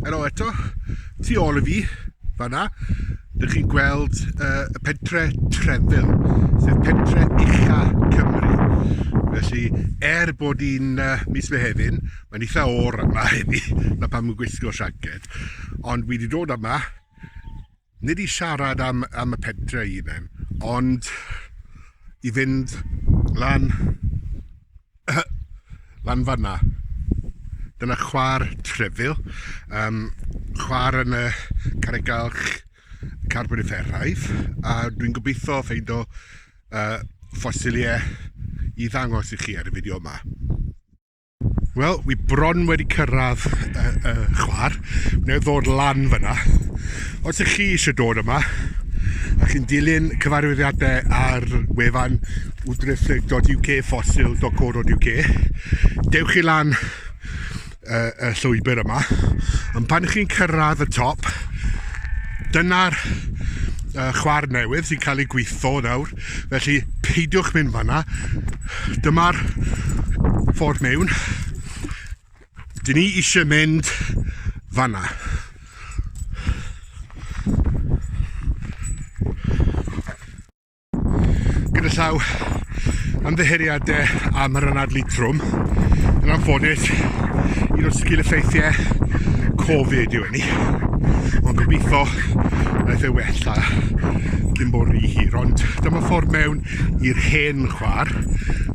Helo eto, tu ôl i fi, fanna, dych chi'n gweld uh, y pentre Trefil, sef pentre ucha Cymru. Felly, er bod hi'n uh, mis Mehefin, mae'n eitha o'r yma heddi, na pam yn gwisgo siaced, ond wedi dod yma nid i siarad am, am y pentre ei hunain, ond i fynd lan, lan fanna. Dyna chwar trefil, um, chwar yn y Carregalch Carbonifferaidd, a dwi'n gobeithio ffeind o uh, ffosiliau i ddangos i chi ar y fideo yma. Wel, wi bron wedi cyrraedd y, y chwar. Wneud ddod lan fyna. Os ych chi eisiau dod yma, a chi'n dilyn cyfarwyddiadau ar wefan wdriflig.uk, fossil.co.uk, dewch chi lan y, y llwybr yma. Ond pan chi'n cyrraedd y top, dyna'r uh, chwar newydd sy'n cael ei gweithio nawr. felly peidiwch mynd fanna. Dyma'r ffordd mewn. Dyn ni eisiau mynd fanna. Gyda llaw ymddiheuriadau am yr anadlu trwm. Yn anffodus, un o'r sgil effeithiau Covid yw hynny. Ond gobeithio clip y ddewella cyn bod rhy hir ond dyma ffordd mewn i'r hen chwar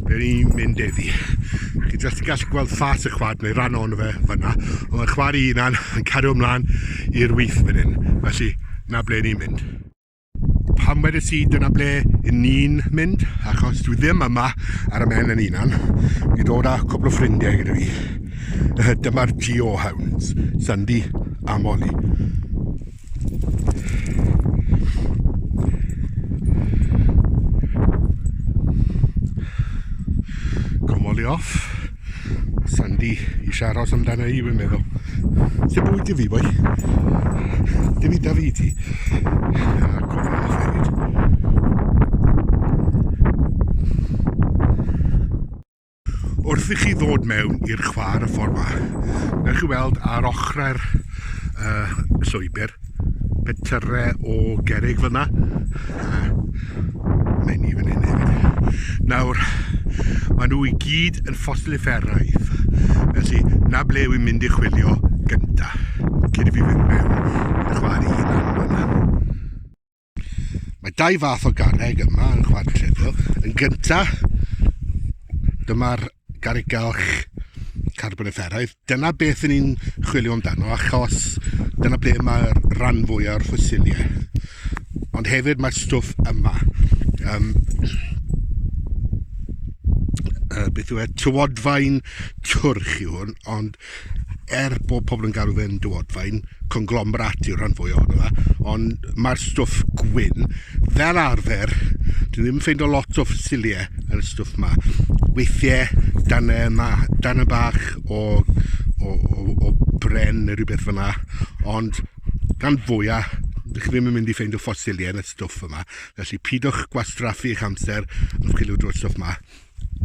ble ni'n mynd eddi chi jyst yn gallu gweld ffas y chwar neu ran o'n fe fyna ond mae chwar i unan yn cario ymlaen i'r wyth fan hyn felly na ble ni'n mynd pam wedi si dyna ble yn ni'n mynd achos dwi ddim yma ar y men yn unan fi dod â cwpl o ffrindiau gyda fi Dyma'r Geohounds, Sandy a Molly. Gomoli off. Sandy eisiau aros amdana i, fi'n meddwl. Lle bwyd i fi, boi? Dim i da fi ti. Wrth i chi ddod mewn i'r chwar y ffordd fach, newch chi weld ar ochrau'r uh, llwybr, petyrre o gerig fyna, a mae'n i fan hyn hefyd. Nawr, maen nhw i gyd yn ffosilifferaidd, felly na ble wy'n mynd i chwilio gynta, cyn i fi fynd mewn i'r chwar i hunan fyna. Mae dau fath o garreg yma yn chwant Tredio. Yn gynta, dyma'r garreg galch carbonifferaidd. Dyna beth yn ni'n chwilio amdano, achos dyna ble mae'r rhan fwy o'r ffosiliau. Ond hefyd mae'r stwff yma. Um, uh, beth yw e? Tywodfaen twrch yw hwn, ond er bod pobl yn galw fe'n dywodfaen, conglomerat yw'r rhan fwy ohono fe, ond mae'r stwff gwyn, fel arfer, dwi ddim yn ffeindio lot o ffosiliau yn y stwff ma. Weithiau, dan y, ma, dan y bach o, o, o, o bren neu rhywbeth fyna, ond gan fwyaf, dych chi ddim yn mynd i ffeindio ffosiliau yn y stwff yma. Felly, pidwch gwastraffu eich amser yn chwilio drwy'r stwff yma.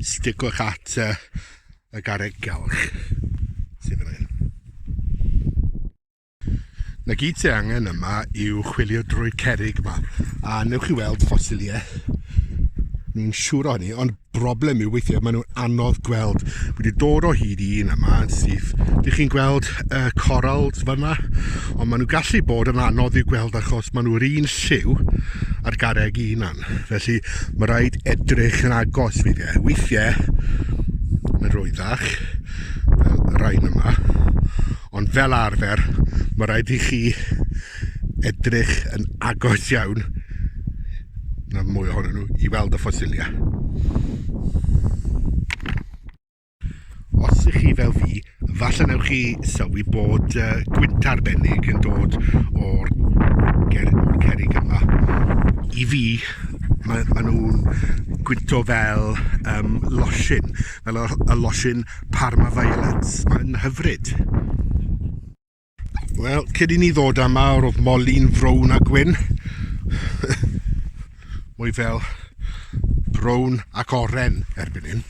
Sticwch at uh, y garreg galch sydd fan hyn. Na gyd sy'n angen yma yw chwilio drwy'r cerig yma a newch chi weld ffosiliau ni'n siŵr o hynny ond broblem yw weithiau maen nhw'n anodd gweld wedi dod o hyd i un yma sydd dych chi'n gweld y uh, corals fanna ond maen nhw gallu bod yn anodd i'w gweld achos maen nhw'r un lliw a'r garreg un siop, felly mae rhaid edrych yn agos weithiau. Weithiau, mae'n rwyddach, fel y rhain yma, ond fel arfer, mae rhaid i chi edrych yn agos iawn na mwy ohonyn nhw i weld y ffosilia. Os ych chi fel fi, falle newch chi sylwi bod uh, gwynt arbennig yn dod o'r ger, or cerig yma. I fi, mae, mae nhw'n gwynto fel um, losin, fel y, y losin Parma Violets. Mae'n hyfryd. Wel, cyd i ni ddod am awr oedd moli'n frown a gwyn. Mwy fel brown ac oren erbyn hyn.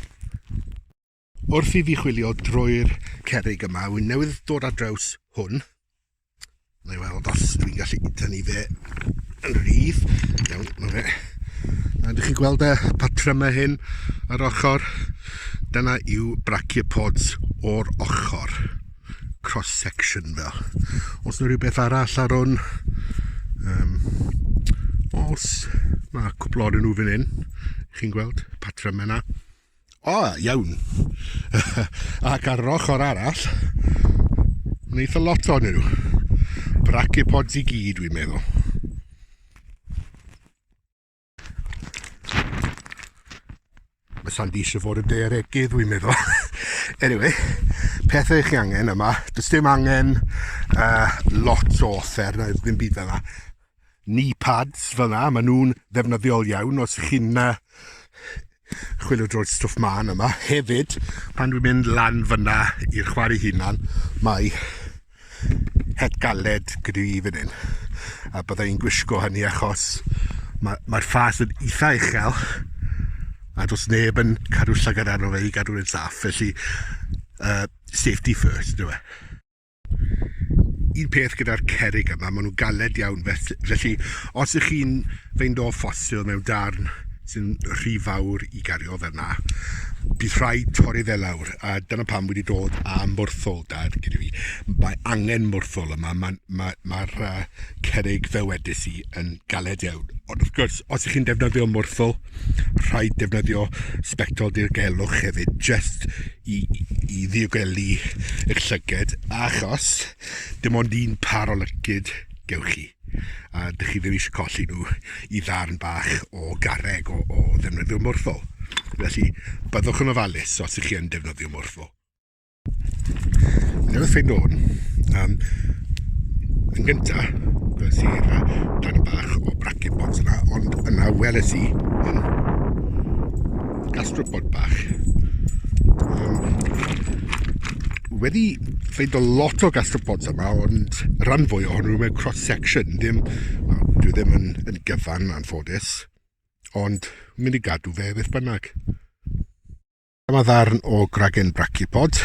Wrth i fi chwilio drwy'r cerig yma, wy'n newydd dod ar draws hwn. Na i weld os dwi'n gallu tynnu fe yn rhydd. Iawn, na fe. A ydych chi'n gweld y patrymau hyn ar ochr? Dyna yw brachiopods o'r ochr. cross section fel. Os yna rhywbeth arall ar hwn, um, os mae cwpl o'r nhw fan hyn, chi'n gweld, patra mena. O, oh, iawn. Ac ar yr ochr arall, mae'n eitha lot o'n nhw. Bracipods i gyd, dwi'n meddwl. Mae Sandy eisiau fod yn dearegydd, dwi'n meddwl. anyway, pethau chi angen yma. Does dim angen uh, lot o offer, na ddim byd fel yna. Knee pads fel yna, maen nhw'n ddefnyddiol iawn os chi'n uh, chwilio drwy'r stwff man yma. Hefyd, pan dwi'n mynd lan fyna i'r chwar ei hunan, mae het galed gyda i fan hyn. A bydda i'n gwisgo hynny achos mae'r mae ffas yn eitha uchel a does neb yn cadw llygad arno fe i gadw'n saff, felly uh, safety first, dwi'n e. un peth gyda'r cerig yma, maen nhw'n galed iawn, felly os ych chi'n fynd o ffosil mewn darn sy'n rhy fawr i gario fel yna, bydd rhaid torri fe lawr, a dyna pam wedi dod â mwrthol dad gyda fi. Mae angen mwrthol yma, mae'r ma, ma, ma uh, cerig fe wedys i yn galed iawn. Ond wrth gwrs, os ych chi'n defnyddio mwrthol, rhaid defnyddio sbectol dirgelwch hefyd, just i, i ddiogelu eich llyged, achos dim ond un par o lycyd gewch chi, a dych chi ddim eisiau colli nhw i ddarn bach o garreg o, o ddefnyddio morthol. Felly, byddwch yn ofalus os ych chi yn defnyddio morthol. Newydd ffeind o'n, um, yn gyntaf, gwelais i'r darn bach o bracket box yna, ond yna weles i hyn, gastropod bach. Um, wedi ffeind o lot o gastropods yma, ond rhan fwy ohonyn nhw mewn cross-section, ddim, well, dwi ddim yn, yn gyfan yn anffodus, ond mynd i gadw fe beth bynnag. Dyma ddarn o gragen brachypod.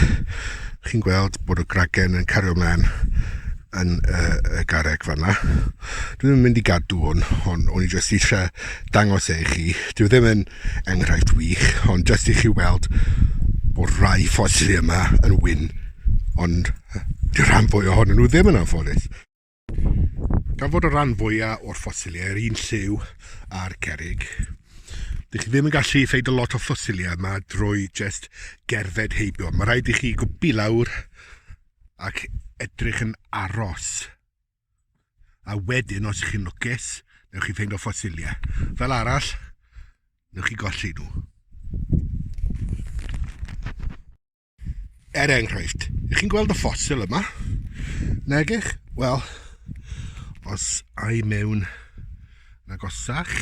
Chi'n gweld bod y gragen yn cario mlaen yn y, y gareg fanna. Dwi ddim yn mynd i gadw hwn, ond o'n i jyst eisiau dangos e i chi. Dwi ddim yn enghraifft wych, ond jyst i chi weld bod rhai ffosili yma yn wyn, ond dy rhan fwy ohonyn nhw ddim yn anffodus. Gan fod y rhan fwyaf o'r ffosiliau yr un lliw a'r cerig, Dych chi ddim yn gallu ffeid y lot o ffosiliau yma drwy jyst gerdded heibio. Mae rhaid i chi gwbi lawr ac edrych yn aros A wedyn, os ych chi'n lwcus, newch chi ffeindio ffosiliau. Fel arall, newch chi golli nhw. Er enghraifft, ych chi'n gweld y ffosil yma? Negych? Wel, os ai mewn nagosach,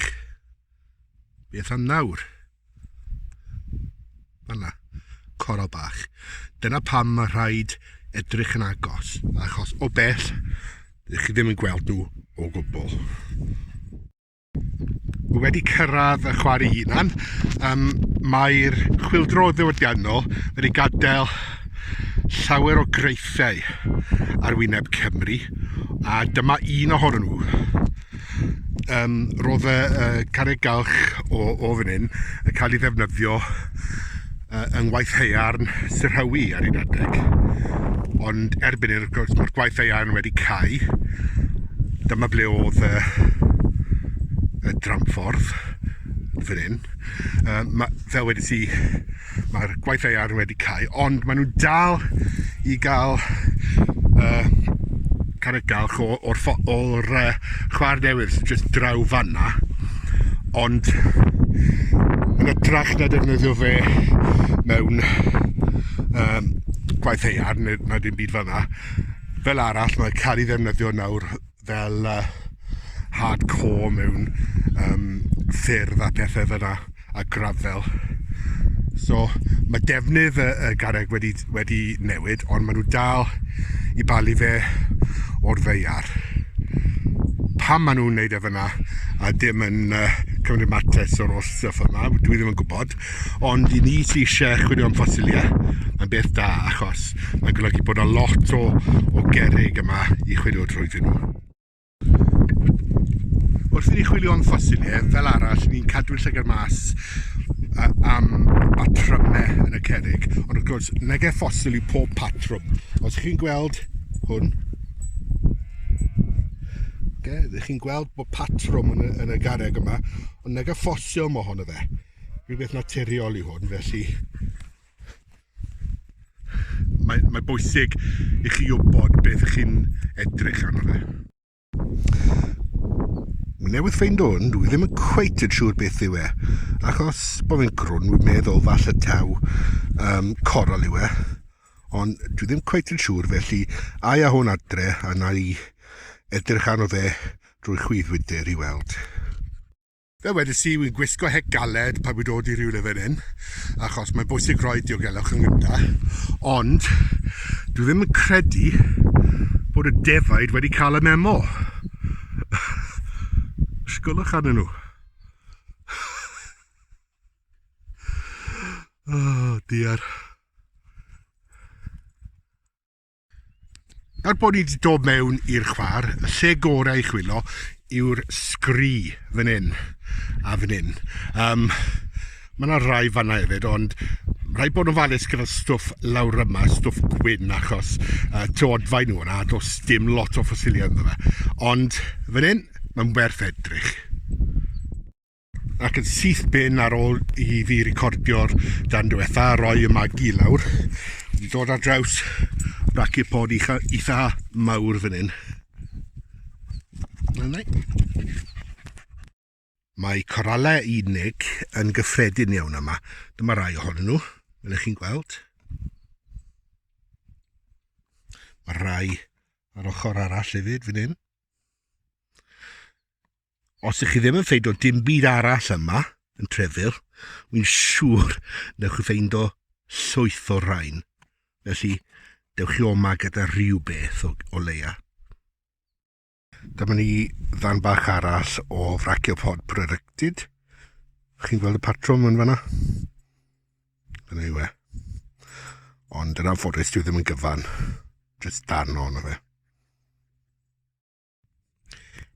beth am nawr? Fanna. Coral bach. Dyna pam mae rhaid edrych yn agos, achos o bell, ydych chi ddim yn gweld nhw o gwbl. Mae wedi cyrraedd y chwarae hunan, um, mae'r chwildro ddiwydiannol wedi gadael llawer o greithiau ar wyneb Cymru, a dyma un ohonyn nhw. Yym, roedd y y carreg galch o o fan hyn yn cael ei ddefnyddio yy yng ngwaith haearn Sir Hywi ar un adeg, ond erbyn hyn wrth gwrs mae'r gwaith haearn wedi cau, dyma ble oedd y y dramffordd, fan hyn. Yym ma', fel wedes i, mae'r gwaith ddaear wedi cael, ond maen nhw'n dal i gael uh, carreg galch o'r, or, or, uh, chwar newydd sy'n just draw fanna, ond yn y trach na defnyddio fe mewn um, gwaith ddaear, neu na dim byd fanna, fel arall, mae'n cael ei ddefnyddio nawr fel uh, hardcore mewn um, ffyrdd a pethau fyna a grafel. So mae defnydd y, y garreg wedi, wedi newid, ond maen nhw dal i balu fe o'r ddeiar. Pam maen nhw'n neud e fyna a dim yn uh, cymryd mates o'r o'r stuff yma, dwi ddim yn gwybod. Ond i ni sy isie chwilio am ffosiliau, mae'n beth da achos mae'n golygu bod 'na lot o o gerrig yma i chwilio trwyddyn nhw. Wrth i ni chwilio am ffosiliau, fel arall, ni'n cadw llygad mas a, am batrymau yn y cerrig, ond wrth gwrs, nage ffosil yw pob patrwm. Os chi'n gweld hwn, okay, chi'n gweld bod patrwm yn y, yn y garreg yma, ond nage ffosil mae hon o fe. Rhywbeth naturiol yw hwn, felly mae, mae bwysig i chi wybod beth ych chi'n edrych arno fe. Newydd ffeind hwn, dwi ddim yn cweit yn siŵr beth yw e, achos bod fi'n crwn, wy'n meddwl falle taw um, coral yw e, ond dwi ddim cweit yn siŵr, felly ai a hwn adre, a na i edrych arno fe drwy chwydd wydr i weld. Fel wedes i, wi'n gwisgo het galed pan wi'n dod i rywle fel hyn, achos mae'n bwysig rhoi diogelwch yn gyntaf, ond dwi ddim yn credu bod y defaid wedi cael y memo. Sgwlwch arnyn nhw. oh, dear. Er bod ni wedi dod mewn i'r chwar, y lle gorau i chwilo yw'r sgri fan hyn a fan hyn. Um, mae yna rai fanna hefyd, ond rhaid bod yn falus gyda'r stwff lawr yma, stwff gwyn, achos uh, teodfau nhw yna, does dim lot o ffosiliau ynddo fe. Ond fan hyn, mae'n werth edrych. ac yn syth bin ar ôl i fi recordio'r dan diwetha a roi y magi lawr wedi dod ar draws braciau pod eitha, eitha mawr fan hyn mae coralau unig yn gyffredin iawn yma dyma rai ohonyn nhw fel ych chi'n gweld mae rai ar ochr arall hefyd fan hyn Os ych chi ddim yn ffeindo dim byd arall yma yn Trefyl, wy'n siŵr newch chi ffeindo llwyth o rain. Felly, dewch chi oma gyda rhywbeth o, o leia. Dyma ni ddan bach arall o Fraciopod Producted. Chi'n gweld y patrwm yn fanna? Dyna yw e. Ond yn anffodus, dwi ddim yn gyfan. Just darn o'n o fe.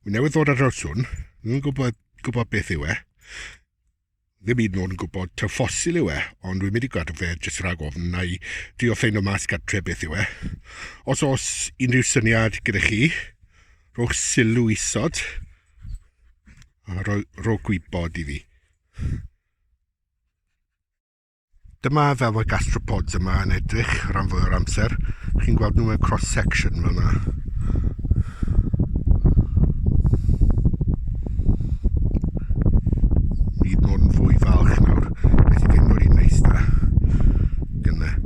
Mi newydd ddod ar draws hwn, ddim yn gwybod, gwybod beth yw e. Ddim hyd yn oed yn gwybod ta ffosil yw e, ond dwi'n mynd i gadw fe jyst rhag ofn na i drio ffeindio mas gartre beth yw e. Os oes unrhyw syniad gyda chi, rhowch sylw isod a rhoi, rhoi gwybod i fi. Dyma fel mae'r gastropods yma yn edrych rhan fwy o'r amser. Chi'n gweld nhw mewn cross-section fel yna. Bydd mod yn fwy falch nawr. Beth i ddim mor un neis da. Gynnau.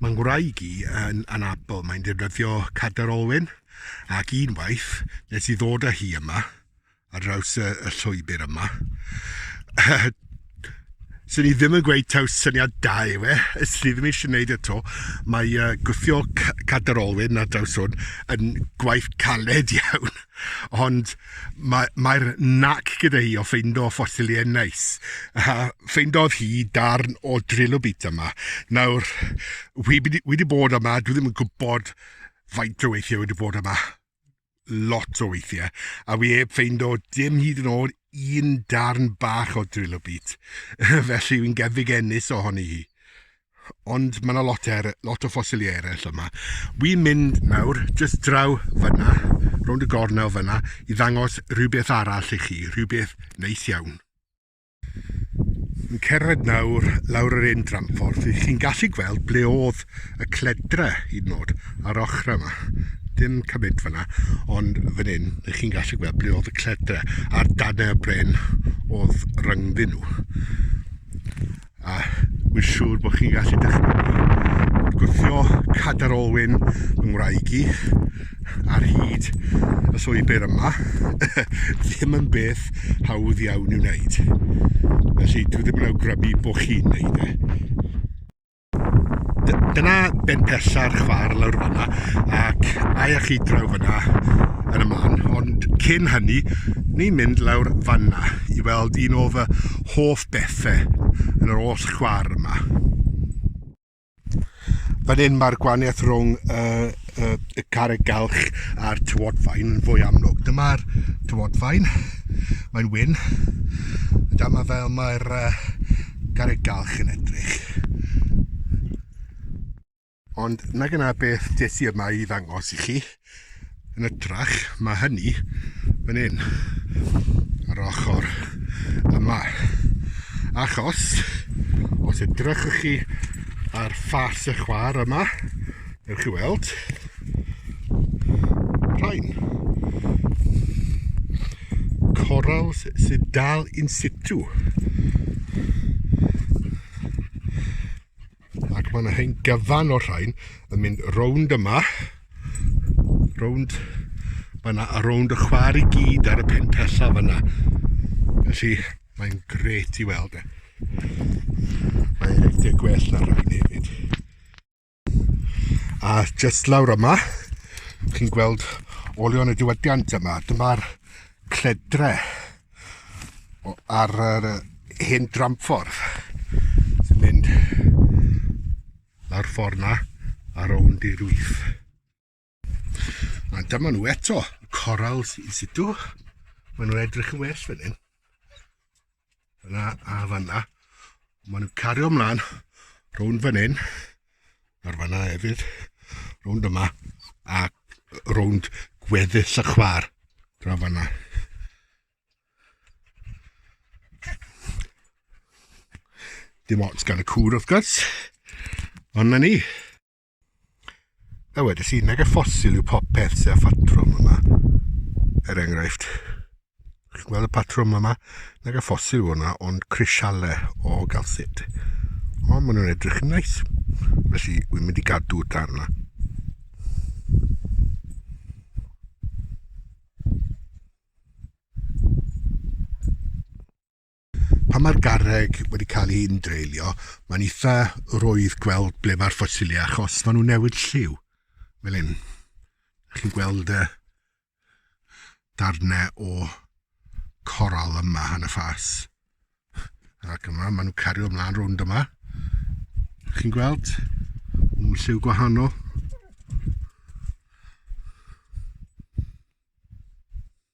Mae ngwraig i yn anabl, mae'n defnyddio cadair olwyn ac unwaith nes i ddod â hi yma, ar draws y, y llwybr yma, sy'n ni ddim yn gweud taw syniad da yw e, ys ni ddim eisiau gwneud y to, mae uh, gwthio cadair olwyn ar draws hwn yn gwaith caled iawn, ond Mae, mae'r nac gyda hi o ffeindo ffosiliau neis. A ffeindodd hi darn o trilobit yma. Nawr, wi wedi, wedi bod yma, dwi ddim yn gwybod faint o weithiau wedi bod yma. Lot o weithiau. A wi heb ffeindo dim hyd yn oed un darn bach o trilobit. Felly, wi'n gefig ennis ohoni hi. Ond mae yna lot, er, lot o ffosiliau eraill yma. Wi'n mynd nawr, jyst draw fyna, rownd y gornel fyna, i ddangos rhywbeth arall i chi, rhywbeth neis iawn. Yn cerdded nawr lawr yr un dramffordd, chi'n gallu gweld ble oedd y cledre i nod ar ochr yma. Dim cymryd fyna, ond fan hyn, chi'n gallu gweld ble oedd y cledre, a'r dan y bren oedd rhyngddyn nhw. A wy'n siŵr bod chi'n gallu dychmygu bod gwthio cadar olwyn fy ngwraig i ar hyd y llwybr yma ddim yn beth hawdd iawn i'w wneud. Felly dwi ddim yn awgrymu bod chi'n wneud e. Dyna ben pella'r chwar lawr fanna ac mae eich chi draw fanna yn y man ond cyn hynny ni'n mynd lawr fanna i weld un o fy hoff bethe yn yr oll chwar yma. Fan hyn mae'r gwaniaeth rhwng y, y, y carreg galch a'r tywodfaen yn fwy amlwg. Dyma'r tywodfaen, mae'n wyn. Dyma fel mae'r uh, carreg galch yn edrych. Ond na gyna beth des i yma i ddangos i chi. Yn ytrach, mae hynny fan hyn, ar ochr yma. Achos, os edrychwch chi ar ffas y chwar yma, ewch chi weld, rhain. Corals sydd dal in situ. Ac mae yna hen gyfan o'r rhain yn mynd rownd yma. Rownd mae yna a rownd y chwar i gyd ar y pentella fyna. Felly mae'n gret i weld e. Mae'n rhedeg gwell na'r rhain hefyd. A just lawr yma, chi'n gweld olion y diwydiant yma. Dyma'r cledre. ar yr hen dramffordd sy'n mynd lawr ffordd na a rownd i'r wyth. A dyma nhw eto, coral sy'n situ. Mae nhw'n edrych yn well fan hyn. Fyna a fanna. Mae nhw'n cario ymlaen rownd fan hyn. ar fanna hefyd, rownd yma, a rownd gweddill y chwar dra fanna. Dim ots gan y cwr wrth gwrs, ond na ni. A wedi si, nag y ffosil yw popeth sy'n ffatrwm yma, er enghraifft. Chi'n gweld y patrwm yma? Nag y ffosil yw hwnna, ond crisiale o galcid. Ond maen nhw'n edrych yn neis. Felly, wy'n mynd i gadw dan yna. Pan mae'r garreg wedi cael ei undreulio, mae'n eitha rwydd gweld ble mae'r ffosiliau achos maen nhw'n newid lliw. Fel hyn. Chi'n gweld y darnau o coral yma yn y ffas. Ac yma, maen nhw'n cario ymlaen rownd yma. Chi'n gweld? Mae'n lliw gwahanol.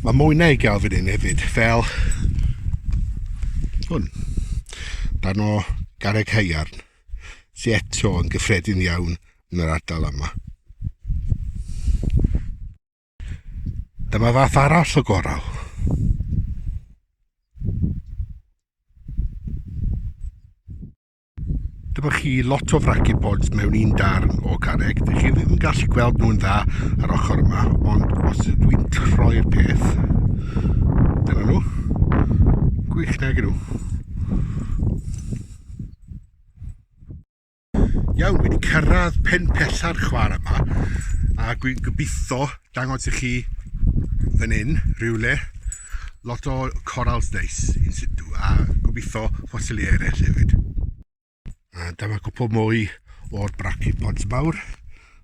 Mae mwy na i gael fan hyn hefyd, fel hwn. Dan o garreg haearn, sy'n eto yn gyffredin iawn yn yr ardal yma. Dyma fath arall o gorau. Dyma chi lot o fracipods mewn un darn o garreg. Dych chi ddim yn gallu gweld nhw'n dda ar ochr yma, ond os ydw i'n troi'r peth, dyna nhw. Gwych nag nhw. Iawn, wedi cyrraedd pen pesa'r chwar yma, a dwi'n gobeithio dangos i chi fan hyn rhywle lot o corals neis in situ a gobeithio ffosili eraill hefyd. A dyma cwpl mwy o'r brachiopods mawr,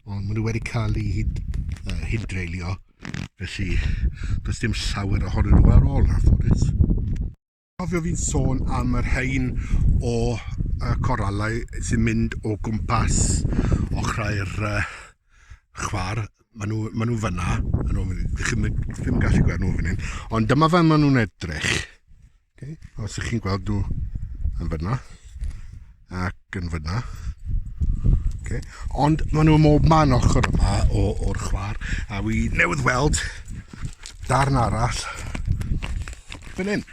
ond maen nhw wedi cael eu hyd, uh, hyd dreulio, felly does dim llawer ohonyn nhw ar ôl na ffodus. Cofio fi'n sôn am yr rhain o y coralau sy'n mynd o gwmpas ochrau'r uh, chwar. Maen nhw, maen nhw fyna, yn ôl ydych chi'n ddim gallu gweld nhw fan hyn, ond dyma fe maen nhw'n edrych. Okay. Os ydych chi'n gweld nhw yn fyna. ac yn fyna. Okay. Ond maen nhw mob man ochr yma o'r chwar, a wi newydd weld darn arall fan hyn.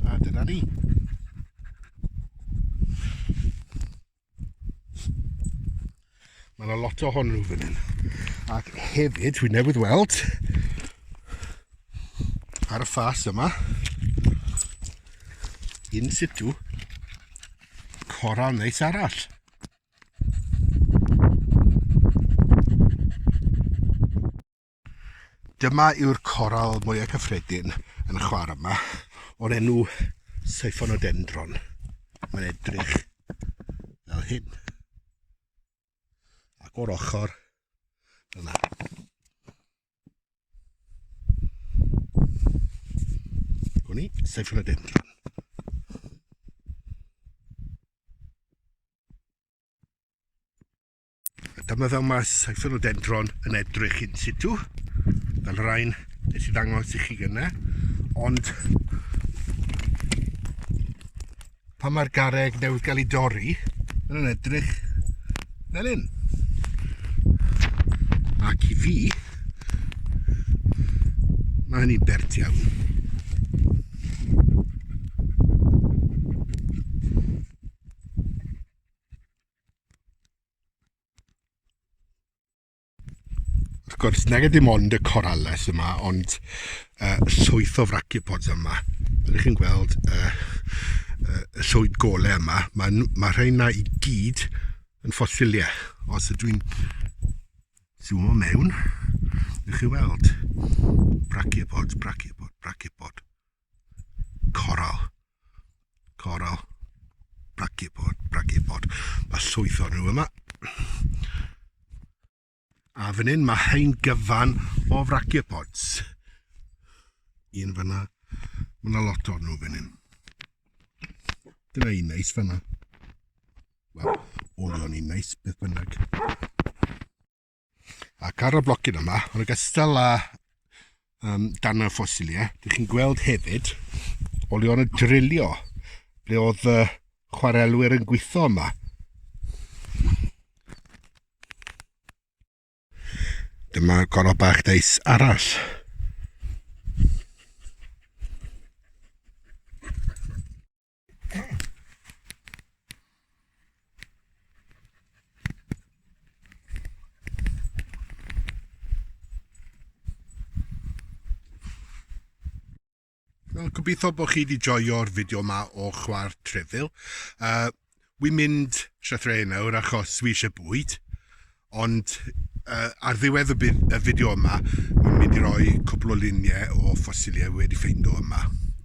A dyna ni. Mae yna lot o hwnnw fan hyn. Ac hefyd, dwi newydd weld ar y ffas yma, in situ, coral neis arall. Dyma yw'r coral mwyaf cyffredin yn y chwar yma, o'r enw Siphonodenddron. Mae'n edrych fel hyn. Ac o'r ochr yna. Gwn i, Siphonodenddron. Dyma fel mae Cypherodendron yn edrych in situ, fel rhain nes i ddangos i chi gyna, ond pan mae'r garreg newydd gael ei dorri, mae'n nhw'n edrych fel hyn. Ac i fi, mae hynny'n bert iawn. Wrth gwrs, nag ydy mond y corales yma, ond uh, llwyth o fracipods yma. Ydych chi'n gweld uh, uh, y llwyd golau yma? Mae, mae rheina i gyd yn ffosiliau. Os ydw i'n zoom o mewn, ydych chi'n weld brachiopods, brachiopods, brachiopods. Coral. Coral. Brachipod, brachipod. Mae llwyth o'n nhw yma. A fan hyn mae hein gyfan o frachipods. Un fyna. Mae yna lot o'n nhw fan hyn. Dyna un neis fyna. Wel, olion un neis, beth bynnag. Ac ar y blocyn yma, yn ogystal â um, dan y ffosiliau, dych chi'n gweld hefyd olion y drilio ble oedd y chwarelwyr yn gweithio yma. Dyma gorau bach deis arall. Wel, gobeithio bod chi wedi joio'r fideo yma o chwar trefil. Uh, Wi'n mynd llythrennau nawr achos wi eisiau bwyd, ond yy ar ddiwedd y byd- y fideo yma, wi'n mynd i roi cwpl o luniau o ffosiliau wi wedi ffeindio yma.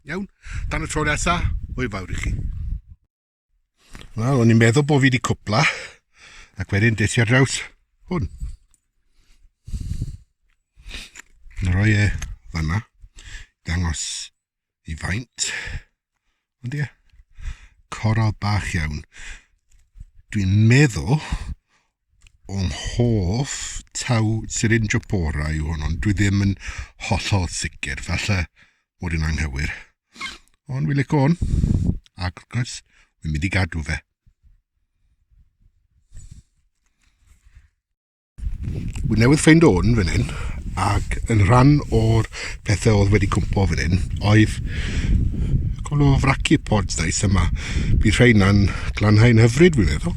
Iawn? Tan y tro nesa, hwyl fawr i chi. Wel, o'n i'n meddwl bod fi wedi cwpla, ac wedyn des i ar draws hwn. Yn rhoi e fanna, dangos i faint. Ond ie, coral bach iawn. Dwi'n meddwl o'n hoff taw Syringiopora yw hwn, ond dwi ddim yn hollol sicr, falle bod yn anghywir. Ond fi lic o'n, ac wrth gwrs, fi'n mynd i gadw fe. Wy newydd ffeind o'n fan hyn, ac yn rhan o'r pethau oedd wedi cwmpo fan hyn, oedd cwbl o fraci pods dais yma. Bydd rhain na'n glanhau'n hyfryd, fi'n meddwl.